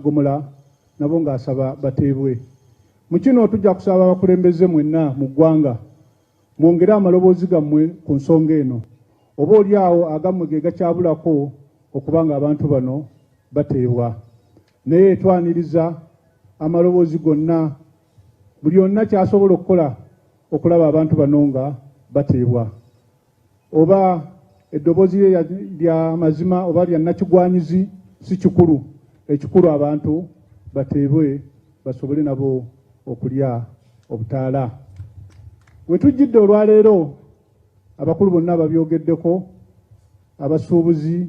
Gomora nabo ngasaba bateebwe. Mukino tugya kusaba abakulembeze mwena mu gwanga mwongere amaloboozi gamwe ku nsonga eno. Oba ori aho agamwe gegakyabura kwo okuba ngu abantu bano bateebwa. Naye twaniriza amaloboozi gonna buri ona kyasobora okukora okuraba abantu bano nga bateebwa. Oba edobozi rye rya mazima oba rya nakigwanyizi si kikuru, ekikuru abantu bateebwe basobole nabo okurya obutaara. Wetujjidde olwaleero abakuru bonna babyogeddeko, abasuubuzi,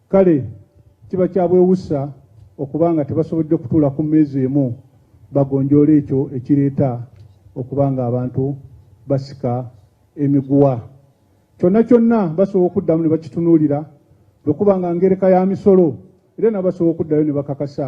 Kare kiba kyabewusa okuba nga tibasobodire kutuura ku meeza emu bagonjoora ekyo ekireeta okuba nga abantu basika emiguha. Kyona kyona basobola okudamu nibakitunuurira bwekuba nga ngereka ya misoro, reero nabo basobola okudayo nibakakasa.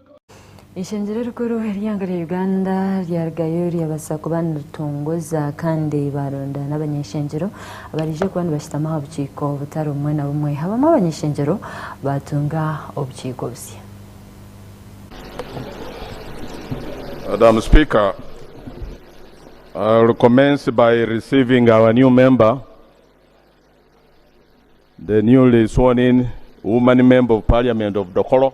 Eishengyero erikuru ery'eihanga rya Uganda ryarugayo ryabaasa kuba niritongoza kandi baaronda n'abany'eishengyero abaraije kuba nibashutama aha bukiiko butari bumwe na bumwe. Abamwe abany'eishengyero baatunga obukiiko busya. Madam Speaker, I'll commence by receiving our new member, the newly sworn in woman member of Parliament of Dokolo.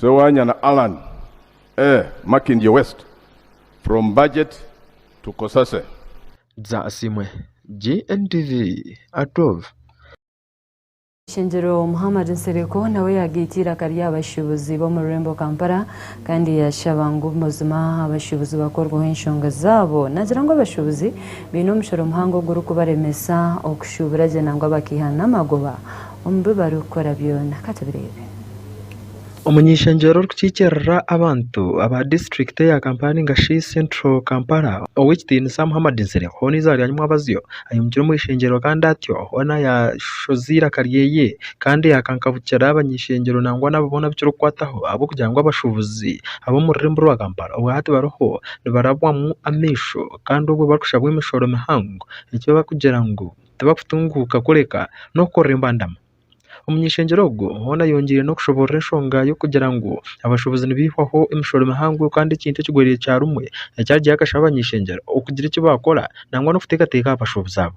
Sewanyana Allan, Eeh Makindye West from Budget to Kosase. Dza Asiimwe GNTV Atwove. Ishengero Muhammad Nsereko nawe yagaita eiraka ry'abashuubuzi b'omu rurembo Kampala kandi yashaba ngu mazima abashuubuzi bakorweho enshonga zaabo. Nagira ngu abashuubuzi baine omushoro muhango ogurikubaremesa okushuubura gye nangwa bakaiha n'amagoba omu bi barikukora byona. Ka tubireebe. Omuny'eishengyero orikukiikirira abantu aba disiturikiti eya Kampala nainga shi Central Kampala, Ow'ekitiinisa Muhammad Nsereko ou n'eizooba rya nyimwabazyo aimukire omu ishengyero kandi atyo hoona yaashoza eiraka ryeye kandi yaakankabukira abany'eishengyero nangwa n'abo boona abu kirikukwataho ahabw'okugira ngu abashuubuzi ab'omu rurembo rwa Kampala obwahati bariho nibarabwamu amaisho kandi obwo barikushabwa emishoro mihango eki barikugira ngu tibakutunguuka kureka n'okukorera embandama. Omunyeshengyero ogwo hoona ayongiire n'okushoboorora enshonga y'okugira ngu abashuubuzi nibaihwaho emishoro mihango kandi ekintu ekigweraire kya rumwe ekyagyeyo akashaba abanyeshengyero okugira eki baakora nangwa n'okuteekateeka aha bashuubuzi abo.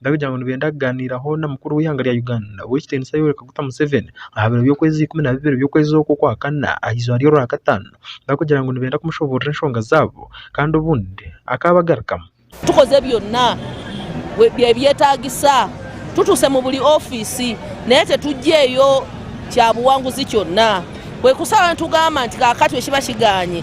barikugira ngu nibenda kuganiiraho na mukuru w'eihanga rya Uganda ow'ekitiinisa Yoweri Kaguta Museveni aha biro by'okwezi ikumi na bibiri by'okwezi oku okwa kana aha izooba ry'orwakataano barikugira ngu nibenda kumushoboorora enshonga zaabo kandi obundi akaabagarukamu. Tukoze byonna ebyetaagisa, tutuuse mu buri ofiisi naye titugyeyo kyabuwanguzi kyonna, kwonka oshaho nitugamba nti kaakati eki bakigaanye.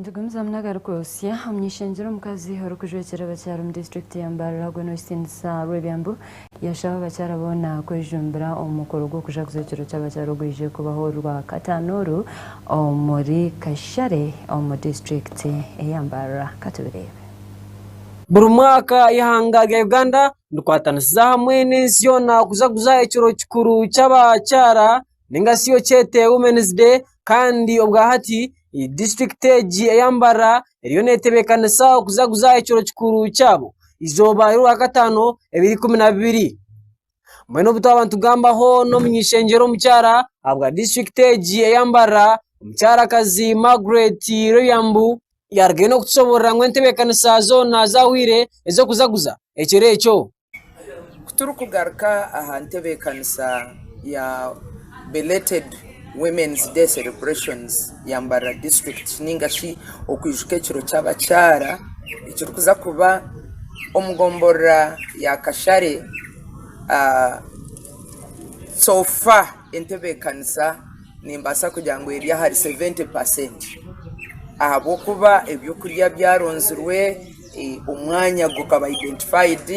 Nitugumizamu n'agarikwotsya omuny'ishengyero omukazi orikujwekyera abakyara omu disiturikiti ya Mbarara ogwo n'ow'ekitiinisa Rwebyambu yaashaba abakyara boona kwejumbira omu mukoro gw'okujaguza ekiro ky'abakyara ogwije kubaho ori Rwakataano oru omuri Kashare omu disiturikiti eya Mbarara. Ka tubireebe. Buri mwaka eihanga rya Uganda rikwatanisiza hamwe n'ensi yoona kujaguza ekiro kikuru ky'abakyara ninga shi okyete women's day kandi obwa hati disiturikiti egi eya Mbara eriyo netebekanisa kuzaguza ekiro kikuru kyabo eizooba ry'orwakataano ebiri kumi na bibiri. Mbwenu obu twaba nitugambaho n'omunyeshengyero omukyara ahabwa disiturikiti egi eya Mbara omukyarakazi Margaret Loriambu yaarugayo n'okutushoboorora ngu entebeekanisa zoona zaahwire ez'okuzaguza ekiro ekyo. Kuturikugaruka aha ntebeekanisa ya belated women's day celebrations ya Mbarara district nainga shi okwijuka ekiro ky'abakyara ekirikuza kuba omu gomborora ya Kashare so far entebeekanisa nimbaasa kugira ngu eri ahari seventy percent ahabw'okuba eby'okurya byaronzirwe. Omwanya gukaba identified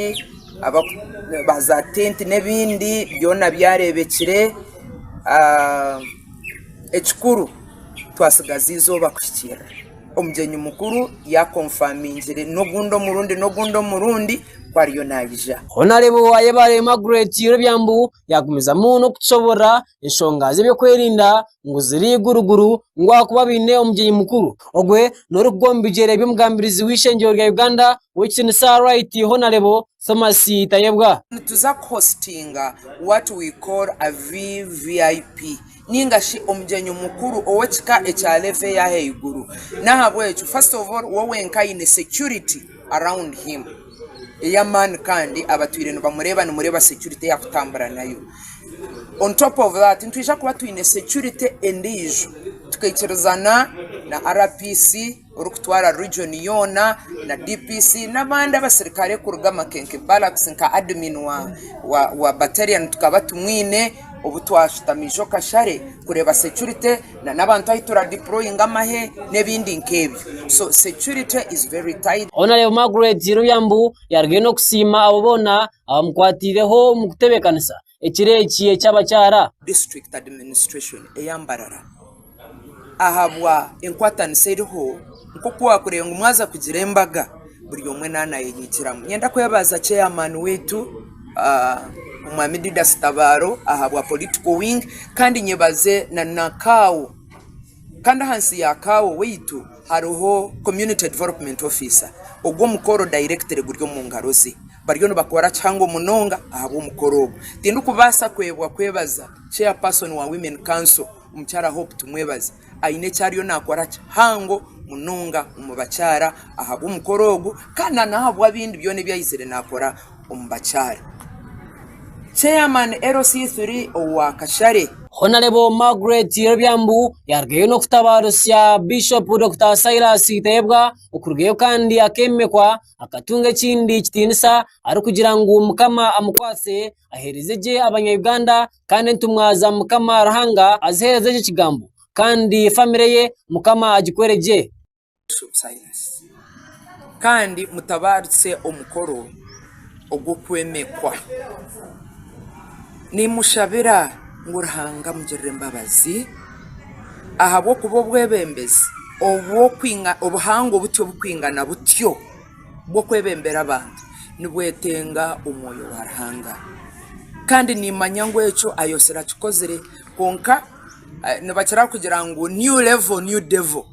ba za tenti n'ebindi byona byareebekire. Ekikuru twatsigaza eizooba kuhikiirira omugyenyi mukuru ya confirmingire n'ogundi omurundi n'ogundi omurundi ku ariyo naija. Honarebo Ayebare Margret Irobya Mbu yagumizamu n'okutushoboorora. Enshonga z'ebyokwerinda ngu ziri iguruguru ngu ahakuba baine omugyenyi mukuru. Ogwe n'orikugwa omu bigyere by'omugambirizi w'eishengyero rya Uganda ow'ekitiinisa Right Honarebo Thomas Tayebwa. Nituza kuhositinga what we call a VVIP nainga shi omugyenyi mukuru ow'ekika ekya level ey'ahaiguru. N'ahabw'ekyo first of all we wenka aine security. around him eya man kandi abatwire nibamureeba nimureeba security eyakutambura nayo on top of that nitwija kuba twine security endiijo tukaikiriza na na RPC orikutwara region yoona na DPC n'abandi abaserukare kuruga amakenke barracks nka admin wa wa battalion tukaba tumwine. Obu twashutama ijo kashare kureeba securite na n'abantu ahu tura deployinga amahe n'ebindi nk'ebyo. So securite is very tight. Aho nareeba Margaret Kirubya ngu yaarugayo n'okusiima abo boona abamukwatiireho omu kutebeekanisa ekiro eki eky'abakyara. District Administration eya Mbarara ahabwa enkwatanisa eriho nk'oku waakureeba ngu mwaza kugira embaga buri omwe naaba nayeyegyeramu, niinyenda kwebaza chairman waitu omwaami Didas Tabaaro ahabwa politico wing kandi nyebaze na kaawo kandi ahansi ya kaawo waitu hariho community development officer ogwo omukoro directly guri omu ngaro ze bariyo nibakora kihango munonga ahabw'omukoro ogwo, tindikubaasa kwebwa kwebaza chairperson wa women council. Omukyara Hope Tumwebaze aine eki ariyo naakora kihango munonga omu bakyara ahabw'omukoro ogu kandi na n'ahabw'abindi byona ebi aizire naakora omu bakyara. Chairman LC3 owa Kashare. Honarebo Margaret Yerobyambu yaarugayo n'okutabaarisa Bishopu Dokita Silas Tayebwa okurugayo kandi akeememekwa akatunga ekindi kitiinisa arikugira ngu Mukama amukwatse aheereze gye Abanya-Uganda kandi entumwa za mukama Ruhanga azihereze eki kigambo kandi famire ye mukama agikwere gye. Kandi mutabaarise omukoro ogw'okwemekwa, nimushabira ngu Ruhanga amugirire embabazi ahabw'okuba obwebembezi obuhango butyo burikwingana butyo. bw'okwebembera abantu nibwetenga omwoyo wa Ruhanga. Kandi niimanya ngu ekyo ayotsire akikozire kwonka nibakira kugira ngu new level new devil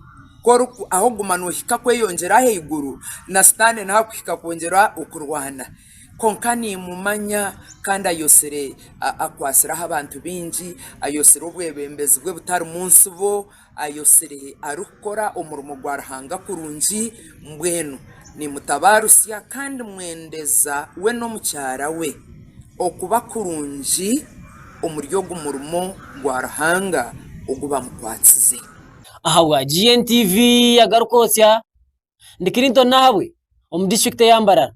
ku orikuguma noohika kweyongyera ahaiguru na sitaane nawe arikuhika kwongyera okurwana. Kwonka niimumanya kandi ayotsire akwatsire aha bantu baingi, ayotsire obwebembezi bwe butarimu ntsibo. Ayotsire arikukora omurimo gwa Ruhanga kurungi, mbwenu nimutabaarusya kandi mwendeza we n'omukyara we okuba kurungi omuri ogu murimo gwa Ruhanga ogu bamukwatsize. Ahabwa GNTV yagaruka otya? Ndi Clinton Nahabwe omu disiturikiti eya Mbarara.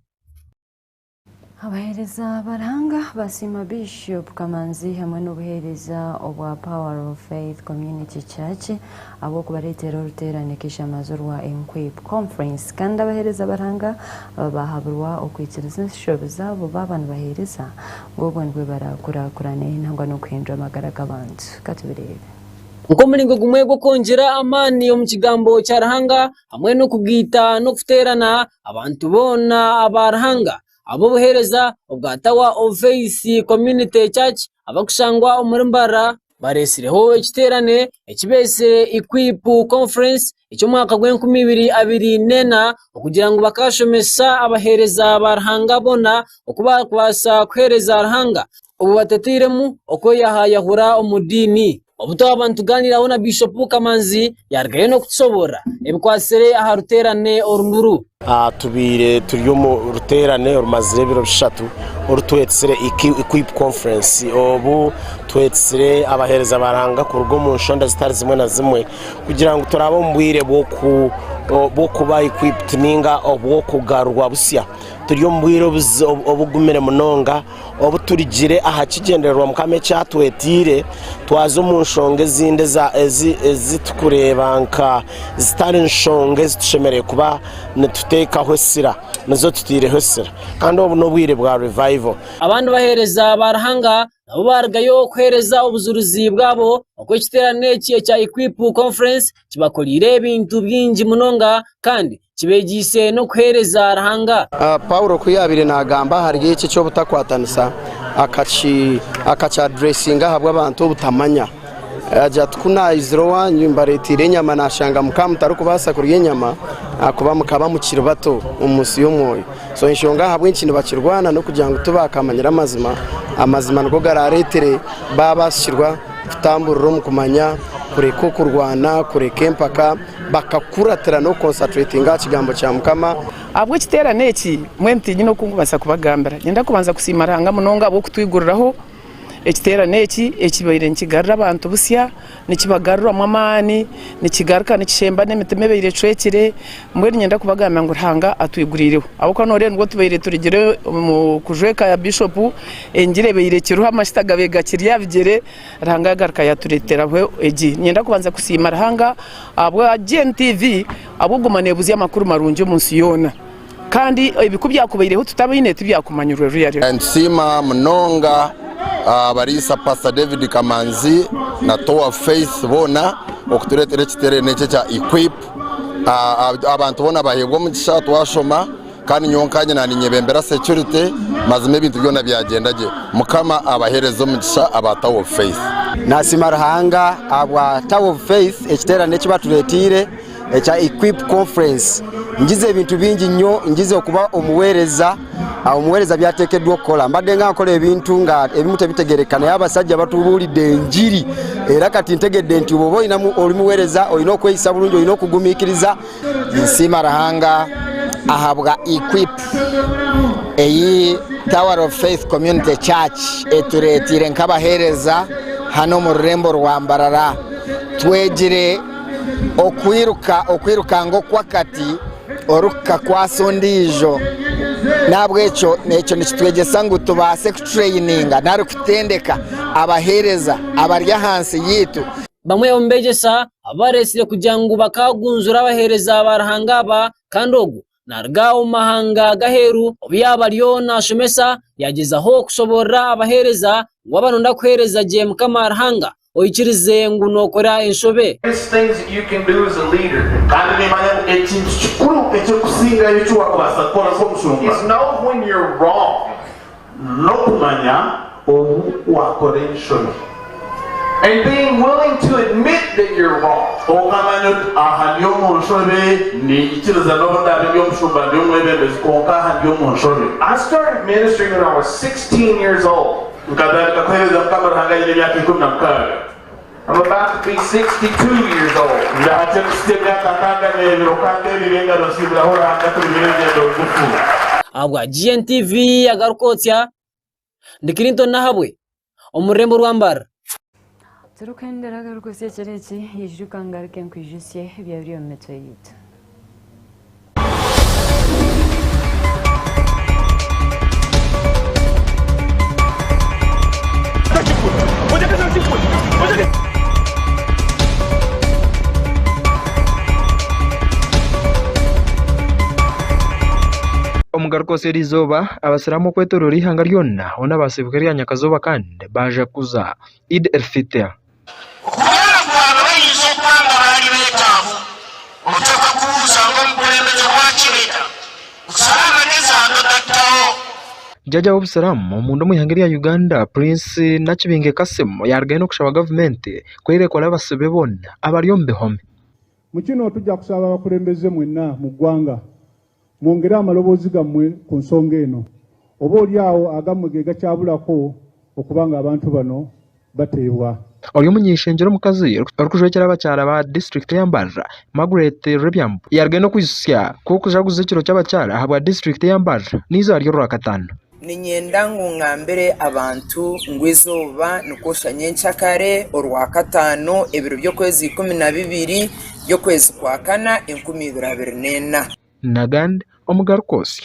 Abaheereza ba Ruhanga basiima Bishop Kamanzi hamwe n'obuheereza obwa Power of Faith Community Church ahabw'okubareetera oruteerane k'eishamazo rwa Enquip Conference kandi abaheereza ba Ruhanga aba baahabirwa okwikiriza enshobi zaabo baaba nibaheereza ngu obwo nibwo baraakurakurane nangwa n'okuhindura amagara g'abantu. Ka tubireebe. Nk'omuringo gumwe gw'okwongyera amaani omu Kigambo kya Ruhanga, hamwe n'okugaita n'okuteerana abantu boona aba Ruhanga ab'obuheereza obwa Tower of Faith Community Church abarikushangwa omuri Mbarara bareetsireho ekiteerane ekibeetsire Equip Conference eky'omwaka gw'enkumi ibiri abiri n'ena okugira ngu bakaashomesa abaheereza ba Ruhanga boona oku baakubaasa kuheereza Ruhanga obu batateiremu okweyahayahura omu diini. Obu twaba nitugaaniiraho na Biishopu Kamanzi yarugayo n'okutushoboorora ebikwatsire aha ruteerane oru nuru. Tubaire turi omu ruteerane orumazire ebiro bishatu oru twetsire Equip Conference. Obu twetsire abaheereza ba Ruhanga kuruga omu nshonda zitari zimwe na zimwe kugira ngu turaabe omu bwire bw'okuba equipped ninga obw'okugarurwa busya. Turi omu bwire obugumire munonga. obu turigire aha kigyendererwa Mukama eki atwetaire, twaza omu nshonga ezindi eza- ezi- ezi turikureeba nka zitari nshonga ezi tushemereire kuba nituteekaho esira, nizo tutaireho esira. Kandi obu n'obwire bwa revival. Abandi baheereza ba Ruhanga nabo baarugayo kuheereza obujurizi bwabo oku ekiteerane eki ekya Equip Conference kibakoreire ebintu bingi munonga kandi kibegyeise n'okuheereza Ruhanga. Paulo ku yaabaire naagamba ahari eki eky'obutakwatanisa, akakyadureesinga ahabw'abantu obutamanya. Yaagira ati, Ku naizire owanyu mbareeteire enyama, naashanga mukaba mutarikubaasa kurya enyama ahakuba mukaba mukiri bato omu nsi y'omwoyo. So enshonga ahabw'enki nibakirwana n'okugira ngu tibaakamanyire amazima. Amazima nigo garaareetere baabaasisirwa kutamburira omu kumanya, kureka okurwana, kureka empaka. Bakakuratira n'okukonsatretinga aha kigambo kya Mukama. Ahabw'ekiteerane eki, mbwenu tinyine oku nkubaasa kubagambira. Niinyenda kubanza kusiima Ruhanga munonga ahabw'okutwiguriraho ekiteerane eki ekibaire nikigarura abantu busya, nikibagaruramu amaani, nikigaruka nikishemba n'emitima ebaire ecwekire. Mbwenu niinyenda kubagambira ngu Ruhanga atwiguriireho. Ahabw'okuba nooreeba nibwo tubaire turugire omu kujwa eka ya Bishopu, engira ebaire ekiriho, amajuta gabaire gakiri aha bigyere. Ruhanga yagaruka yatureteraho egi. Ninyenda kubanza kusiima Ruhanga ahabwa GNTV ahabw'okuguma nebuzya amakuru marungi omu nsi yoona kandi ebi ku byakubaireho tutabaine tibyakumanyirwe ruyari. Nitusiima munonga abariisa Pastor David Kamanzi na Tour of Faith boona okuturetera ekiterane eki ekya Equip. Abantu boona baheebwa omugisha twashoma. Kandi nyowe nka nyina ninyebembera security mazima ebintu byona byagyenda gye. Mukama abahereze omugisha aba Tower of Faith. Nasiima Ruhanga ahabwa Tower of Faith ekiterane eki batureteire ekya Equip Conference. Ngize ebintu bingi nyo, ngize okuba omuwereza, omuwereza byatekedwa okukora. Mbade nga nkora ebintu nga ebimu tebitegereka naye abasajja batuburide engiri era kati ntegede nti obu oba oyine omuwereza oyine okweyisa burungi, oyine okugumikiriza. Ninsiima Ruhanga ahabwa equip eyi Tower of Faith Community Church etureeteire nk'abaheereza hanu omu rurembo rwa Mbarara. Twegire okwiruka okwirukanga okw'akati orikukakwasa ondiijo. Nahabw'ekyo ekyo nikitwegyesa ngu tubaase kututureyininga nari kutendeka abaheereza abari ahansi yaitu. Bamwe omu beegyesa ababareetsire kugira ngu bakaagunzure abaheereza ba Ruhanga aba kandi ogu naaruga omu mahanga g'aheeru obu yaaba ariyo naashomesa yaagyezaho kushoboorora abaheereza ngu waaba nooyenda kuheereza gye Mukama Ruhanga oikirize ngu nookora enshobe. Kandi niimanya ngu ekintu kikuru eky'okusingayo eki waakubaasa kukora nk'omushumba. n'okumanya obu waakora enshoni. And being willing to admit that you're wrong. Okamanya oti, aha ndi omu nshobe, ninyikiriza n'obu ndaabe ndi omushumba, ndi omwebembezi, kwonka aha ndi omu nshobe. I started ministering when I was sixteen years old. Nkatandika kuheereza Mukama Ruhanga nyine emyaka ikumi na mukaaga. Ndahati ekusya emyaka nkaaga n'ebiro, kandi ebibi engaro nsiibiraho Ruhanga turugire orugyendo rugufu. Ahabwa GNTV agaruka otya? Ndi Clinton Nahabwe omu rurembo rwa Mbarara. Turikuhendera agaruka otya kiro eki, ijuka ngaruke nkwijutsye ebyabire omu mitwe yaitu. Omugaruka oseeri eizooba, Abasiraamu okwetoroora eihanga ryona hoona baasiibuka erya Nyakazooba kandi baajaguza Eid el-Fitr. Kubwenu kuraabe barinzi okwanga baari betaavu, oteekwa kubuuza ngu, Omukulembegye we akireeta kucaaha amagezi aha bi otarikutaho? Jaaja w'Obusiramu omunda omu ihanga erya Uganda, Prince Nakibinge Kassim yaaruga haihi n'okushaba gavumenti ku eira ekole abasibe be boona abari omu bihome. Mukino tugya kushaba abakulembeze mwena mu gwanga Mwongere aha maloboozi gamwe ku nsonga eno. Oba ori aho agamwe ge gakyabura kwo okuba ngu abantu bano bateebwa. Ori omuny'eishengyero omukazi orikujwekyera abakyara ba disiturikiti ya Mbarara, Margaret Rebyambu, yarugaine okwijutsya ku orikujaguza ekiro ky'abakyara ahabwa disiturikiti ya Mbarara n'eizooba ry'Orwakataano. Niinyenda ngu ngambire abantu ngu eizooba nikwoshya nyenkya kare, Orwakataano, ebiro by'okwezi ikumi na bibiri by'okwezi kwa kana enkumi ibiri abiri n'ena. Nagand omugaru kwotsya.